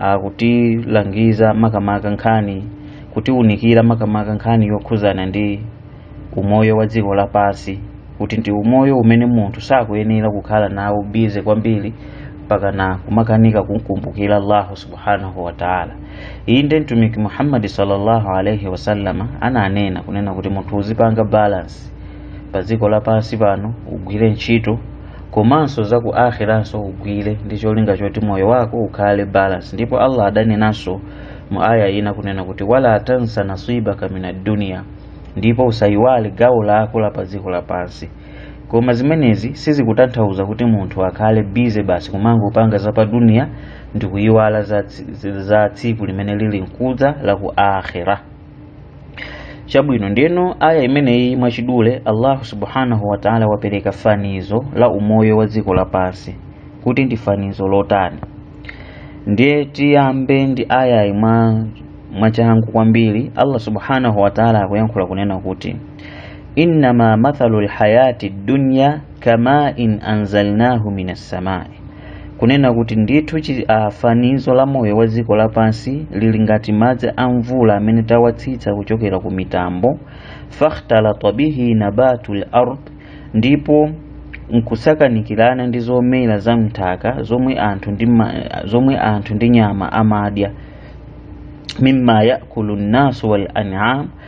akutilangiza makamaka nkhani kutiwunikira makamaka nkhani yokhuzana ndi umoyo wa dziko lapansi kuti ndi umoyo umene munthu sakuyenera kukhala nawo bize kwambiri pakana kumakanika kukumbukira allahu subhanahu wataala inde mtumiki muhammadi sallallahu alaihi wasallama ananena kunena kuti munthu uzipanga balance pa dziko lapansi pano ugwire ntchito komanso za ku akhiranso ugwire ndi cholinga choti moyo wako ukhale balance ndipo allah adanenanso mu aya ina kunena kuti wala tansa nasibaka mina duniya ndipo usayiwale gawo lako la pa dziko lapansi koma zimenezi sizikutanthauza kuti munthu akhale bize basi kumangopanga za pa duniya ndi kuyiwala za tsiku limene lili mkudza la ku akhira chabwino ndeno aya imeneyi mwachidule allahu subhanahu wataala wapereka fanizo la umoyo wa dziko lapansi kuti ndi fanizo lotani ndiye tiyambe ndi ayayi mwa mwachangu kwambiri allah subhanahu wataala akuyankhula kunena kuti innama mathalu lhayati dunya kama in anzalnahu min assamai kunena kuti ndithu fanizo la moyo wa dziko lapansi lili ngati madzi a mvula amene tawatsitsa kuchokera ku mitambo fakhtalata bihi nabatu lard ndipo nkusakanikirana ndi zomera za mthaka zomwe anthu ndi nyama amadya mimma yakulu nnasu wal an'am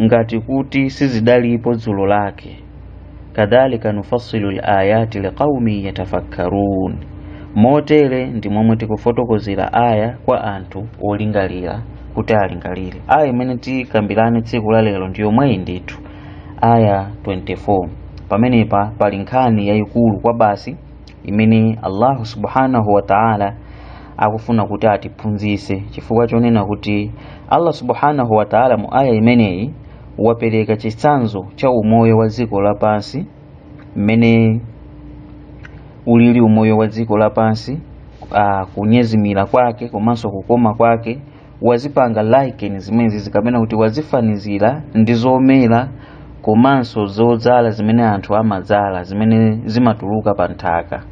ngati kuti sizidalipo dzulo lake kadhalika nufassilu layati liqaumin yatafakkarun motere ndi momwe tikufotokozera aya kwa anthu olingalira kuti alingalire aya imene tikambirane tsiku la lero ndi yomweyi ndithu aya 24 pamenepa pali nkhani yayikulu kwabasi imene allahu subhanahu wa ta'ala akufuna kuti atiphunzitse chifukwa chonena kuti allah subhanahu wa ta'ala mu aya imeneyi wapereka chitsanzo cha umoyo wa dziko lapansi mmene ulili umoyo wa dziko lapansi uh, kunyezimira kwake komanso kukoma kwake wazipanga liken zimenezi kapena kuti wazifanizira ndi zomera komanso zodzala zimene anthu amadzala zimene zimatuluka pa nthaka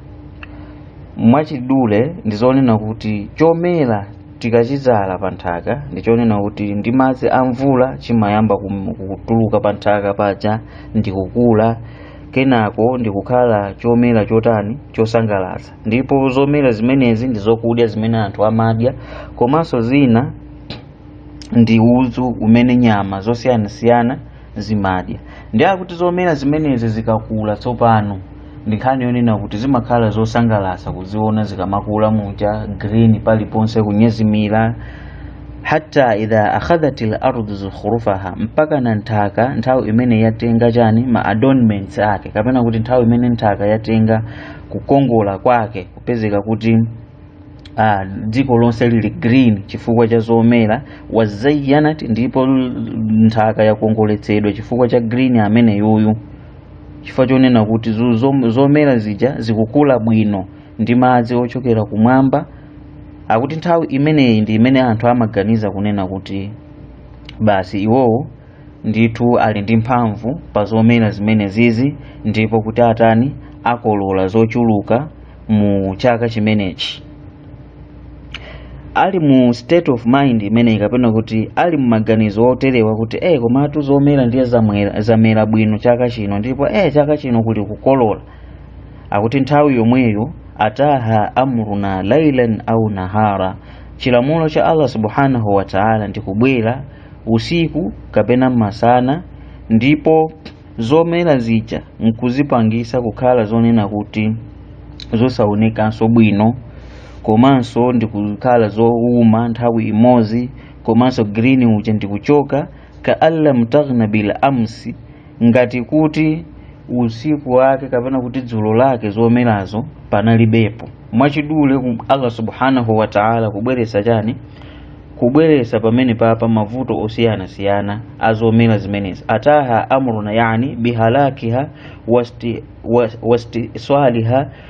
mwachidule ndi zonena kuti chomera tikachidzala pa nthaka ndi chonena kuti ndi madzi a mvula chimayamba kum- kutuluka pa nthaka paja ndi kukula kenako ndi kukhala chomera chotani chosangalatsa ndipo zomera zimenezi ndi zokudya zimene anthu amadya komanso zina ndi udzu umene nyama zosiyanasiyana zimadya ndiye kuti zomera zimenezi zikakula tsopano ndi nkhani yonena kuti zimakhala zosangalatsa kuziona zikamakula muja green paliponse kunyezimira hatta idha akhadhatil ardu zukhrufaha mpaka na nthaka nthawi imene yatenga chani ma adornments ake kapena kuti nthawi imene nthaka yatenga kukongola kwake kupezeka kuti ah, dziko lonse lili green chifukwa cha zomera wazzayyanat ndipo nthaka yakongoletsedwa chifukwa cha green ameneyuyu chifukwa chonena kuti zu- zom- zomera zija zikukula bwino ndi madzi ochokera kumwamba akuti nthawi imeneyi ndi imene anthu amaganiza kunena kuti basi iwowo ndithu ali ndi mphamvu pa zomera zimene zizi ndipo kuti atani akolola zochuluka mu chaka chimenechi ali mu state of mind imeneyi kapena kuti ali mu maganizo oterewa kuti eh komatu zomera ndiye zamwera- zamera bwino chaka chino ndipo eh chaka chino kuli kukolola akuti nthawi yomweyo ataha amruna lailan au nahara chilamulo cha allah subhanahu wa taala ndikubwera usiku kapena masana ndipo zomera zija nkuzipangisa kukhala zonena kuti zosaonekanso bwino komanso ndikukhala zouma nthawi imodzi komanso green uja ndikuchoka ka allam taghna bil amsi ngati kuti usiku wake kapena kuti dzulo lake zomerazo panalibepo mwachidule ku- allah subhanahu wa taala kubweretsa chani kubweretsa pamene papa mavuto osiyanasiyana azomera zimenezi ataha amruna yani bihalakiha wasti- was- wastiiswaaliha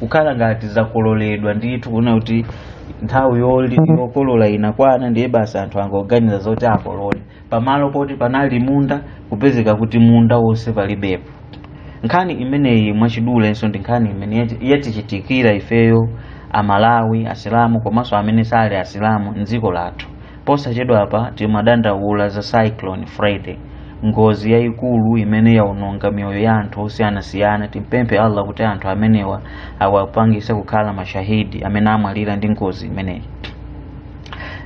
kukhala ngati zakololedwa ndithu kunena kuti nthawi yoli- yokolola inakwana ndiye basi anthu angoganiza zoti akolole pamalo poti panali munda kupezeka kuti munda wonse palibepo nkhani imeneyi mwachidulenso ndi nkhani imene yati- yatichitikira ifeyo amalawi asilamu komanso amene sali asilamu mdziko lathu Posachedwapa timadandaula za Cyclone Freddy, ngozi yayikulu imene yaononga miyoyo ya anthu osiyanasiyana. Timpemphe Allah kuti anthu amenewa awapangise kukhala mashahidi amene amwalira ndi ngozi imeneyi.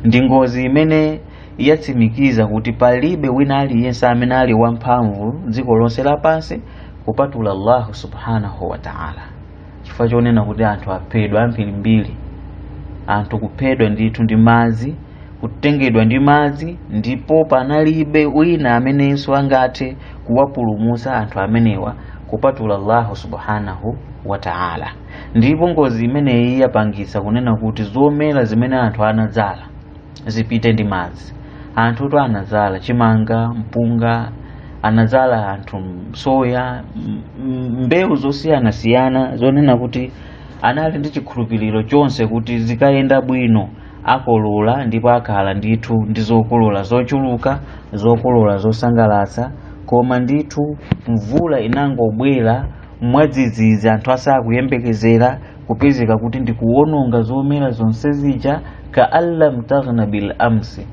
Ndi ngozi imene yatsimikiza kuti palibe wina aliyense amene ali wamphamvu dziko lonse lapansi kupatula Allahu subhanahu wa ta'ala. chifukwa chonena kuti anthu aphedwa ambirimbiri anthu kuphedwa ndithu ndi madzi kutengedwa ndi madzi ndipo panalibe wina amenenso angathe kuwapulumutsa anthu amenewa kupatula allahu subhanahu wa taala ndipo ngozi imeneyi yapangitsa kunena kuti zomera zimene anthu anadzala zipite ndi madzi anthu tu anadzala chimanga mpunga anadzala anthu soya m- m- mbewu zosiyanasiyana zonena kuti anali ndi chikhulupiriro chonse kuti zikayenda bwino akolola ndipo akhala ndithu ndi zokolola zochuluka zokolola zosangalatsa koma ndithu mvula inangobwera mwadzidzidzi anthu asakuyembekezera kupezeka kuti ndikuwononga zomera zonse zija ka allam taghna bil amsi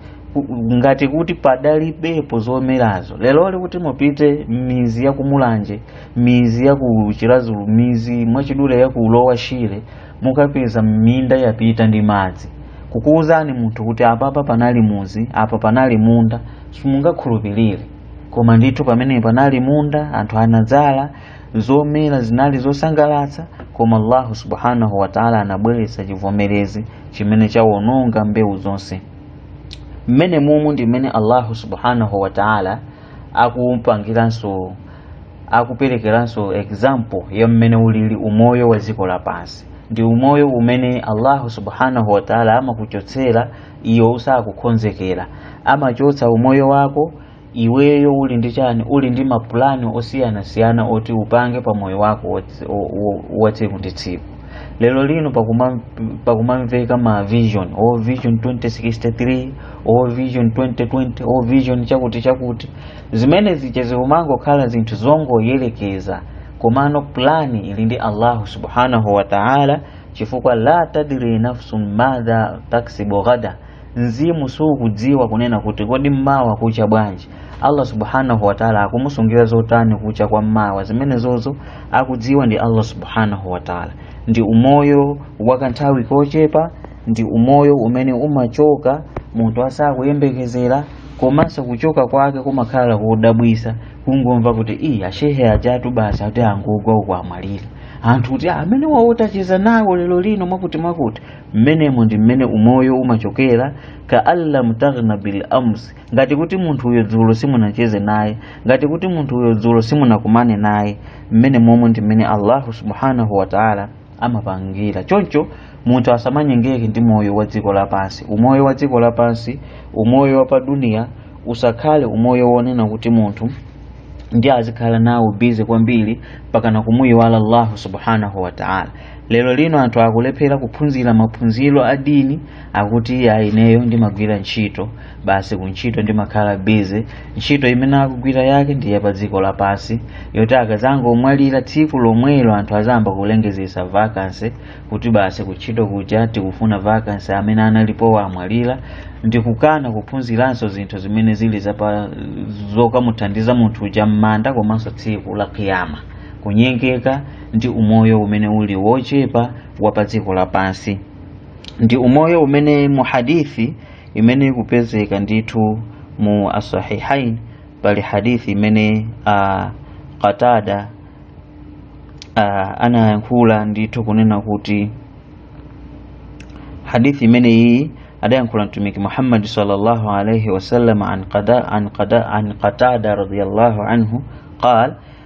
ngati kuti padalibepo zomerazo leroli kuti mupite mizi ya kumulanje mizi ya ku chirazulu mizi mwachidule ya ku lower shire mukapeza minda yapita ndi madzi kukuwuzani munthu kuti apapa panali muzi apa panali munda simungakhulupirire koma ndithu pamene panali munda anthu anadzala zomera zinali zosangalatsa koma allahu subhanahu wataala anabweretsa chivomerezi chimene chawononga mbewu zonse mmene mumu ndi mmene allahu subhanahu wataala akupangiranso akuperekeranso example ya mmene ulili umoyo wa dziko lapansi ndi umoyo umene allahu subhanahu wataala amakuchotsera iwe usakukonzekera amachotsa umoyo wako iweyo uli ndi chani uli ndi mapulani osiyanasiyana oti upange pa moyo wako wa tsi- o- o- wa tsiku ndi tsiku lero lino pakuma- pakumamveka ma vision o vision 2063 o vision 2020 o vision chakuti chakuti zimene zija zikumangokhala zinthu zongoyerekeza komano plani ili ndi allahu subhanahu wa taala chifukwa la tadri nafsun madha taksibu ghada mzimu sukudziwa kunena kuti kodi mmawa kucha bwanji allah subhanahu wataala akumusungira zotani kucha kwa mmawa zimenezozo akudziwa ndi allah subhanahu wataala ndi umoyo wakanthawi kochepa ndi umoyo umene umachoka munthu asakuyembekezera komanso kuchoka kwake kumakhala kodabwisa kungomva kuti iyi ashehe ajatu basi ati angokugwa uko amwalira anthu kuti amene wawo tacheza nawo lero lino mwakuti mwakuti mmenemo ndi mmene umoyo umachokera ka an lam taghna bil ams ngati kuti munthu uyo dzulo simunacheze naye ngati kuti munthu uyo dzulo simunakumane naye mmene momwe ndi mmene allahu subhanahu wataala amapangira choncho munthu asamanyengeke ndi moyo wa dziko lapansi umoyo wa dziko lapansi umoyo wa paduniya usakhale umoyo wonena kuti munthu ndi azikhala nawo bize kwambiri mpakana kumuyiwala allahu subhanahu wataala lero lino anthu akulephera kuphunzira maphunziro a dini akuti ayi ineyo ndimagwira ntchito basi kuntchito ndimakhala bize ntchito imene akugwira yake ndi ya pa dziko lapansi yoti akazangomwalira tsiku lomwelo anthu azayamba kulengezesa vakansi kuti basi kuntchito kuja tikufuna vakansi amene analipowa amwalira ndikukana kuphunziranso zinthu zimene zili zokamuthandiza munthu uja m'manda komanso tsiku la kiyama kunyengeka ndi umoyo umene uli wochepa wa pa dziko lapansi ndi umoyo umene mu hadithi imene ikupezeka ndithu mu asahihain pali hadithi imene qatada anayankhula ndithu kunena kuti hadithi imene iyi adayankhula mtumiki muhammadi sallallahu alaihi wasallam an qatada radiallahu anhu qal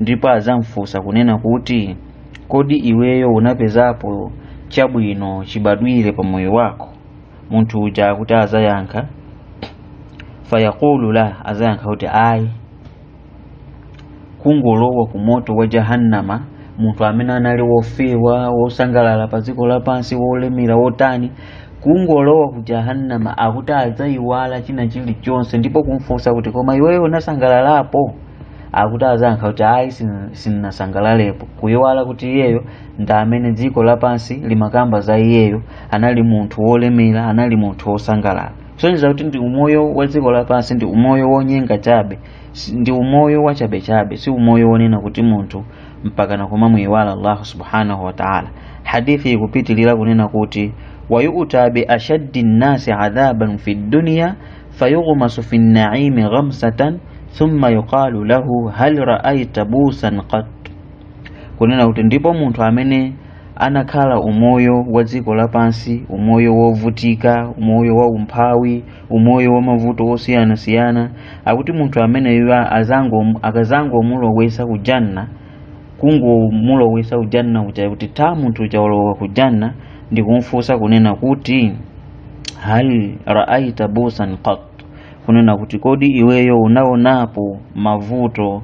ndipo adzamfunsa kunena kuti kodi iweyo unapezapo chabwino chibadwire pa moyo wako munthu uja akuti azayankha fayaqulu la azayankha kuti ayi kungolowa ku moto wa jahannama munthu amene anali wofewa wosangalala pa dziko lapansi wolemera wotani kungolowa ku jahannama akuti adzayiwala china chilichonse ndipo kumfunsa kuti koma iweyo unasangalalapo akuti azayankha kuti ayi sinasangalalepo kuyiwala kuti iyeyo ndi amene dziko lapansi limakamba za iyeyo anali munthu wolemera anali munthu wosangalala kusonyeza kuti ndi umoyo wa dziko lapansi ndi umoyo wonyenga chabe ndi umoyo wachabechabe si umoyo wonena kuti munthu mpakana kumamuyiwala allahu subhanahu wataala hadithi ikupitilira kunena kuti wayuta bi ashaddi nnasi adhaban fi dunya fayughmasu fi nnaimi ghamsatan thumma yuqalu lahu hal raaita busan qat kunena kuti ndipo munthu amene anakhala umoyo wa dziko lapansi umoyo wovutika umoyo wa umphawi umoyo wa mavuto osiyanasiyana akuti munthu ameneyo akazangomulowesa ku janna kungomulowesa ku janna kuja kuti tha munthu uja walowa ku janna ndikumfunsa kunena kuti hal raaita busan qat kunena kuti kodi iweyo unaonapo mavuto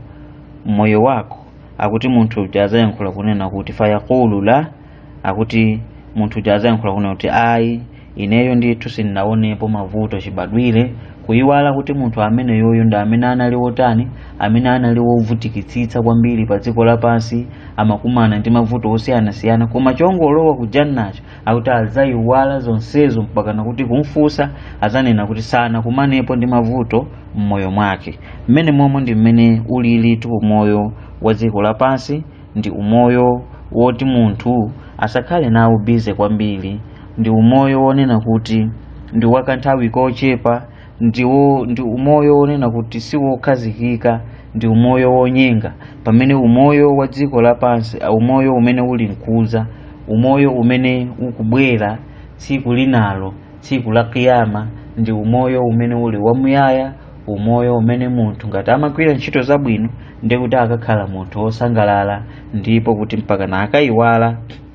moyo wako akuti munthu uja azayankhula kunena kuti fayaqulu la akuti munthu uja azayankhula kunena kuti ayi ineyo ndithu sindinaonepo mavuto chibadwire kuyiwala kuti munthu amene uyoyo ndi amene anali wotani amene anali wovutikitsitsa kwambiri pa dziko lapansi amakumana ndi mavuto osiyanasiyana koma chongolowa kujannacho akuti adzayiwala zonsezo mpakana kuti kumfunsa adzanena kuti sanakumanepo ndi mavuto m'moyo mwake mmene momwe ndi mmene ulilitu umoyo wa dziko lapansi ndi umoyo woti munthu asakhale nawo bize kwambiri ndi umoyo wonena kuti ndi wakanthawi kochepa ndi umoyo wonena kuti si wokhazikika ndi umoyo wonyenga pamene umoyo wa dziko lapansi a umoyo umene uli mkuza umoyo umene ukubwera tsiku linalo tsiku la kiyama ndi umoyo umene uli wamuyaya umoyo umene munthu ngati amagwira ntchito zabwino ndi kuti akakhala munthu wosangalala ndipo kuti mpakana akayiwala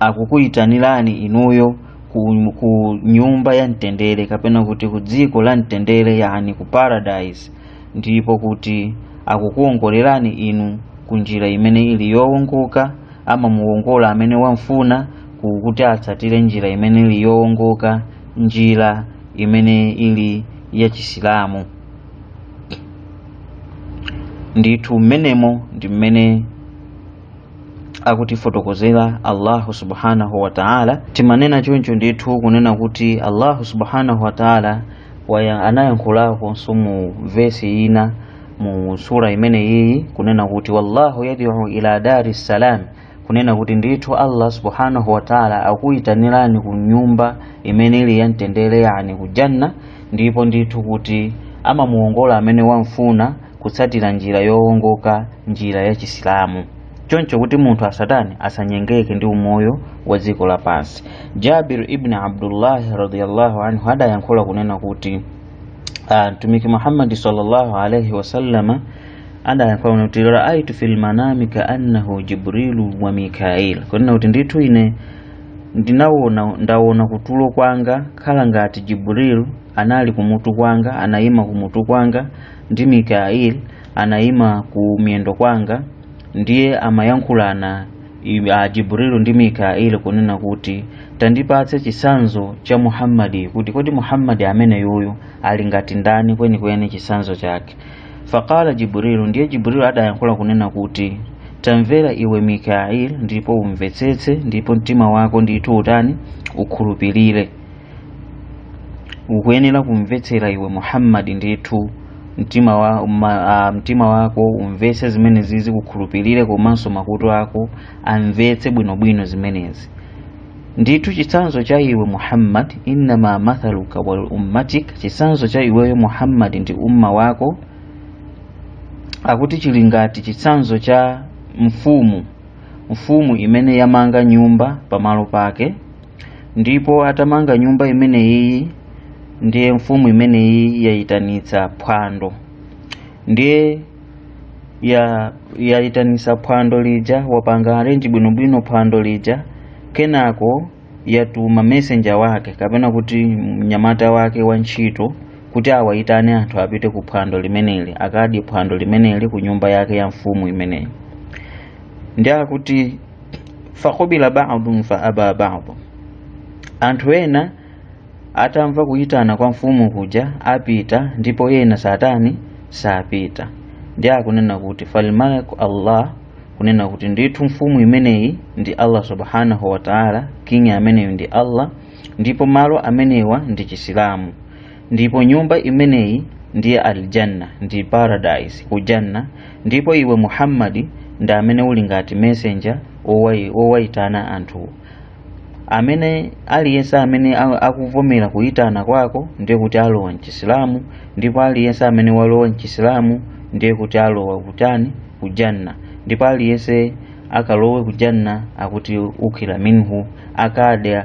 akukuyitanirani inuyo ku nyumba ya mtendere kapena kuti ku dziko la mtendere yani ku paradise ndipo kuti akukuwongolerani inu ku njira imene ili yowongoka amamuwongola amene wamfuna ku- kuti atsatire njira imene ili yowongoka njira imene ili ya chisilamu ndithu mmenemo ndi mmene akutifotokozera Allahu subhanahu wa ta'ala timanena choncho ndithu kunena kuti Allahu subhanahu wa ta'ala anayankhulakonso mu vesi ina mu sura imene iyi kunena kuti wallahu yad'u ila dari salam kunena kuti ndithu Allah subhanahu wa ta'ala akuyitanirani ku nyumba imene ili yamtendere yani ku janna ndipo ndithu kuti amamuongola amene wamfuna kutsatira njira yowongoka njira ya chisilamu choncho kuti munthu asatani asanyengeke ndi umoyo wa dziko lapansi jabir ibn abdullahi radiyallahu anhu adayankhula kunena kuti ah, mtumiki muhammadi sallallahu alaihi wasallama adayankhula kunena kuti raaitu fil manami kaannahu jibrilu wa mikail kunena kuti ndithu ine ndinaona ndaona kutulo kwanga khala ngati jibrilu anali kumutu kwanga anayima kumutu kwanga ndi mikail anayima ku miyendo kwanga ndiye amayankhulana a jibrilu ndi mikail kunena kuti tandipatse chitsanzo cha muhammadi kuti kodi muhammadi ameneyuyu ali ngati ndani kwenikweni chitsanzo chake faqala jibrilu ndiye jibrilu adayankhula kunena kuti tamvera iwe mikail ndipo umvetsetse ndipo mtima wako ndithu utani ukhulupirire ukuyenera kumvetsera iwe muhammadi ndithu mtima wako umvetse zimenezizi ukhulupirire komanso makutu ako amvetse bwinobwino zimenezi ndithu chitsanzo cha iwe muhammad innama mathaluka wal ummatik chitsanzo cha iweyo muhammad ndi umma wako akuti chili ngati chitsanzo cha mfumu mfumu imene yamanga nyumba pamalo pake ndipo atamanga nyumba imeneyiyi ndiye mfumu imeneyiyi yayitanitsa phwando ndiye ya yayitanitsa phwando lija wapanga arrange bwinobwino phwando lija kenako yatuma messenger wake kapena kuti mnyamata wake wa ntchito kuti awayitane anthu apite ku phwando limeneli akadye phwando limeneli ku nyumba yake ya mfumu imeneyi ndiye akuti faqabila badun fa aba badun anthu ena atamva kuyitana kwa mfumu kuja apita ndipo ena saatani sapita ndiye akunena kuti falmaliku allah kunena kuti ndithu mfumu imeneyi ndi allah subhanahu wataala king ameneyo ndi allah ndipo malo amenewa ndi chisilamu ndipo nyumba imeneyi ndiye aljanna ndi paradise ku janna ndipo iwe muhammadi ndi amene uli ngati messenger wowai- wowaitana anthu amene aliyense amene a- akuvomera kuyitana kwako ndiye kuti alowa mchisilamu ndipo aliyense amene walowa mchisilamu ndiye kuti alowa kutani kujanna ndipo aliyense akalowe kujanna akuti ukila minhu akadya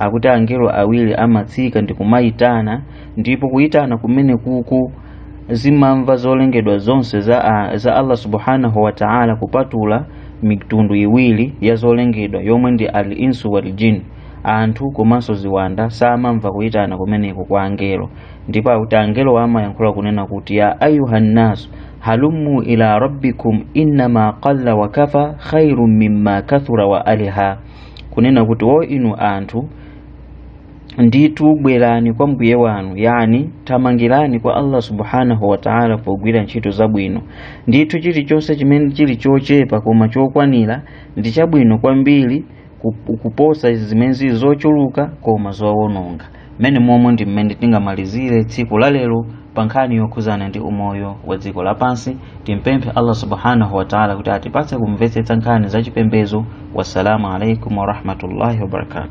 akuti angelo awiri amatsika ndi kumayitana ndipo kuyitana kumene kuku zimamva zolengedwa zonse za, a- za allah subhanahu wa ta'ala kupatula mitundu iwiri ya zolengedwa yomwe ndi al insu wal jin anthu komanso ziwanda samamva kuyitana kumeneko kwa angelo ndipo akuti angelo amayankhula kunena kuti ya ayuhannasu halummu ila rabbikum innama qalla wa kafa khairun mimma kathura wa aliha kunena kuti o inu anthu ndithu bwerani kwa mbuye wanu yani thamangirani kwa allah subhanahu wataala pogwira ntchito zabwino ndithu chilichonse chimene chili chochepa koma chokwanira ndi chabwino kwambiri kuposa zimene zili zochuluka koma zowononga mmene momwe ndi mmene tingamalizire tsiku la lero pa nkhani yokhuzana ndi umoyo wa dziko lapansi timpemphe allah subhanahu wa taala kuti atipatse kumvetsetsa nkhani za chipembedzo wassalamu alaikum warahmatullahi wabarakatu